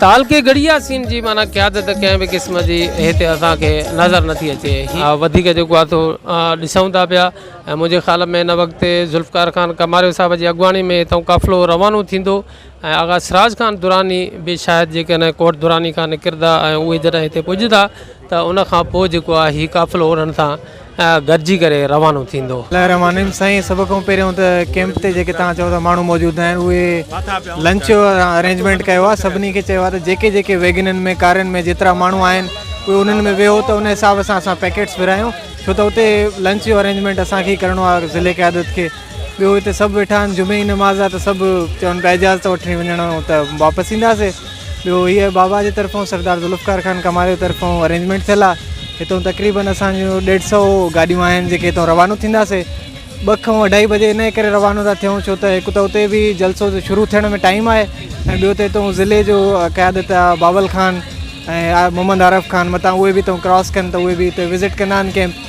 تعلقي گڙياسين جي معنيٰ قيادت ڪنهن به قسم جي هتي اسان کي نظر نٿي اچي وڌيڪ جيڪو آهي سو ڏسون ٿا پيا ۽ منهنجي خيال ۾ هن وقت ذوالفقار خان ڪماريو صاحب جي اڳواڻي ۾ هتان قافلو روانو ٿيندو ۽ آغا سراج خان دراني به شايد جيڪڏهن ڪوٽ دراني کان نڪرندا ۽ اهي جڏهن هتي پڄندا ته ان کان پوء جيڪو آهي هي قافلو انهن سان گڏجي ڪري روانو ٿيندو. الله الرحمان الرحيم سائين سڀ کان پهريون ته ڪيمپ تي جيڪي توهان چئو ٿا ماڻهو موجود آهن اهي لنچ جو ارينجمينٽ ڪيو آهي سڀني کي چيو آهي ته جيڪي جيڪي ويگنن ۾ ڪارن ۾ جيترا ماڻهو آهن اهي انهن ۾ ويهو ته ان حساب سان اسان پيڪيٽس ورهايون ڇو ته اتي لنچ جو ارينجمينٽ اسان کي ئي ڪرڻو آهي ضلعي قيادت کي ٻيو هتي سڀ ويٺا آهن جمعي جي نماز آهي ته سڀ چون پيا اجازت ته وٺڻي وڃڻو ته واپس اينداسي ٻيو هيء بابا جي طرفون سردار ذوالفقار خان ڪمال جي طرفون ارينجمينٽ ٿيل آهي هتو تقريبن اسان جون ڏيڍ سو گاڏيون آهن جيڪي هتو روانو ٿينداسي ٻه کان اڍائي بجي ان ڪري روانو ٿا ٿيون ڇو ته هڪ ته اتي به جلسو شروع ٿيڻ ۾ ٽائيم آهي ۽ ٻيو ته هتو ضلعي جو قيادت آهي بابل خان ۽ محمد عارف خان متان اهي به هتو ڪراس ڪن ته اهي به هتي وزٽ ڪندا آهن ڪيمپ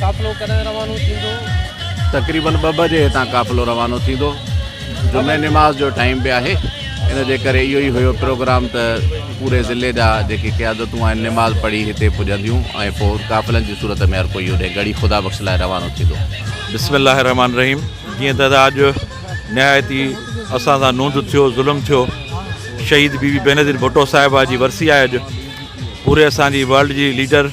قافلو ڪڏهن روانو ٿيندو؟ تقريبن ٻه بجي هتان قافلو روانو ٿيندو جمعي نماز جو ٽائيم به آهي ان جي ڪري اهو ئي هيو پروگرام ته پوري ضلعي جا جيڪي قيادتون آهن نماز پڙهي هتي پڄنديون ۽ پوء قافلن جي صورت ۾ هر ڪوئي هوڏي ڳڙهي خدا بخش لاء روانو ٿيندو. بسم الله الرحمٰن الرحيم جيئن ته ادا اڄ نهايت ئي اسان سان نوند ٿيو ظلم ٿيو شهيد بي بي بينظير ڀٽو صاحبه جي ورسي آهي اڄ پوري اسان جي ورلڊ جي ليڊر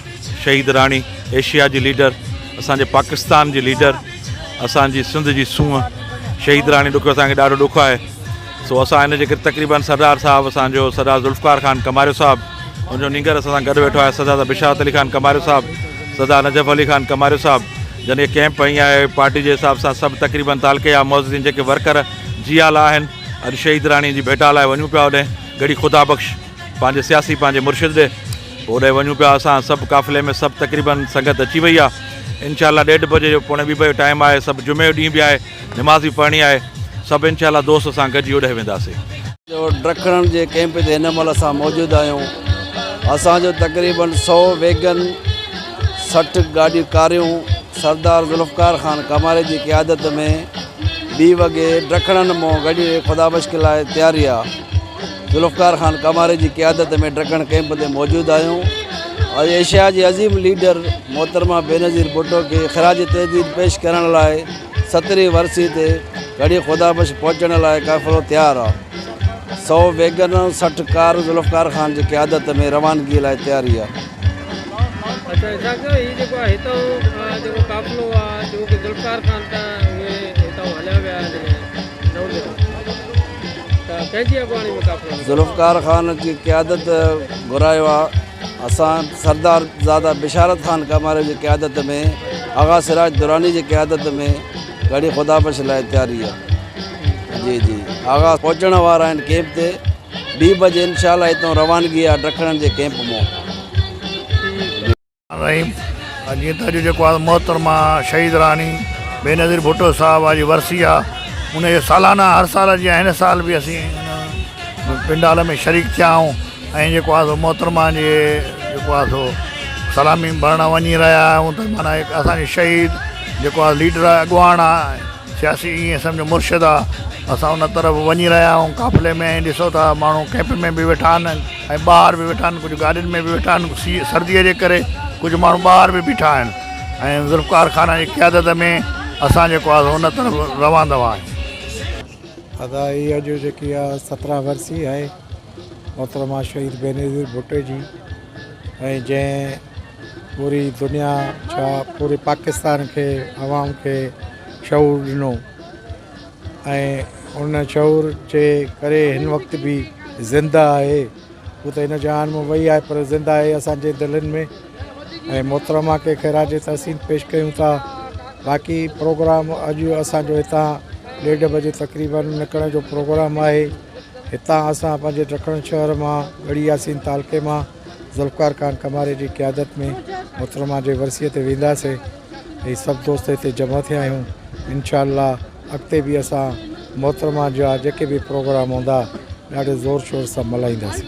شهيد راڻي ايشيا جي ليڊر اسان جي پاڪستان جي ليڊر اسان جي سنڌ جي سونهن شهيد راڻي ڏکيو اسان کي ڏاڍو ڏک آهي سو اسان هن جي ڪري تقريبن سردار صاحب اسان جو سردار ذوالفقار خان ڪماريو صاحب ان جو نينگر اسان سان گڏ ويٺو آهي سردار بشارت علي خان ڪماريو صاحب سردار نجف علي خان ڪماريو صاحب جن کي ڪيمپ ائين آهي پارٽي جي حساب سان سڀ تقريبن تعلقي جا معززين جيڪي ورڪر جي آلا آهن اڄ شهيد راڻي جي ڀيٽا لاء وڃون پيا اوڏي گڙي خدا بخش پنهنجي سياسي پنهنجي مرشد ڏي هوڏانهن وڃون پيا اسان سڀ قافلي ۾ سڀ تقريبن سنگت اچي وئي آهي انشاء الله ڏيڍ بجي جو پوڻي ٻي بجي جو ٽائيم آهي سڀ جمعي جو ڏينهن به آهي نماز به پڙهڻي آهي سڀ انشاء الله دوست اسان گڏجي هوڏانهن وينداسين. ڊکڻن جي ڪئمپ تي هن مهل اسان موجود آهيون اسان جو تقريبن سؤ ويگن سٺ گاڏيون ڪاريون سردار ذوالفقار خان ڪماري جي قيادت ۾ ٻي وڳي ڊکڻن مون گڏجي خدا بخش لاء تيار رهيا. ذوالفقار خان ڪاماري جي قيادت ۾ ڊڪڻ ڪئمپ تي موجود آهيون ۽ ايشيا جي عظيم ليڊر محترمه بينظير ڀٽو کي خراج تحديد پيش ڪرڻ لاء سترهين ورسي تي گهڙي خدا بخش پهچڻ لاء قافلو تيار آ سئو ويگن ۽ سٺ ڪار ذوالفقار خان جي قيادت ۾ روانگي لاء تياري آ. اچا اسحاق صاحب هي جيڪو آهي هتان جيڪو قافلو آ جيڪو ذوالفقار خان تان اهي هتان هليا ويا آهن ذوالفقار خان جي قيادت گهرايو آ اسان سردار زاده بشارت خان ڪاماري جي قيادت ۾ آغا سراج دراني جي قيادت ۾ گهڙي خدا بخش لاء تياري آ جي جي آغا پهچڻ وارا آهن ڪيمپ تي ٻي بجي انشاء الله هتون روانگي آ ڊکڻن جي ڪيمپ مون رحيم جيئن ته اڄ جيڪو آهي محترمه شهيد راڻي بينظير ڀٽو صاحب جي ورسي آ ان جي سالانه هر سال جيان هن سال به اسين ان پنڊال ۾ شريڪ ٿيا آهيون ۽ جيڪو آهي سو محترمه جي جيڪو آهي سو سلامي ڀرڻ وڃي رهيا آهيون ته معنيٰ هڪ اسان جي شهيد جيڪو آهي ليڊر آهي اڳواڻ آهي سياسي ائين سمجهو مرشد آ اسان ان طرف وڃي رهيا آهيون قافلي ۾ ائين ڏسو ٿا ماڻهو ڪئمپ ۾ به ويٺا آهن ۽ ٻاهر به ويٺا آهن ڪجهه گاڏين ۾ به ويٺا آهن سي سردي جي ڪري ڪجهه ماڻهو ٻاهر به بيٺا آهن ۽ ذوالفقار خان جي قيادت ۾ اسان جيڪو آهي ان طرف روان دوان آهيون. ادا هي اڄ جيڪي آ سترهن ورسي آهي محترمه شهيد بينظير ڀٽو جي ۽ جنهن پوري دنيا ڇا پوري پاڪستان کي عوام کي شعور ڏنو ۽ ان شعور جي ڪري هن وقت به زنده آهي هو ته هن جهان مان وئي آهي پر زنده آهي اسانجي دلين ۾ ۽ محترمه کي خراج تحسين پيش ڪيون ٿا باقي پروگرام اڄ اسانجو هتان ڏيڍ بجي تقريبن نڪرڻ جو پروگرام آهي هتان اسان پنهنجي ڊکڻ شهر مان ڳڙهي ياسين تعلقي مان ذوالفقار خان ڪماري جي قيادت ۾ محترمه جي ورسيء تي وينداسين هي سڀ دوست هتي جمع ٿيا آهيون انشاء الله اڳتي به اسان محترمه جا جيڪي به پروگرام هوندا ڏاڍي زور شور سان ملهائينداسين.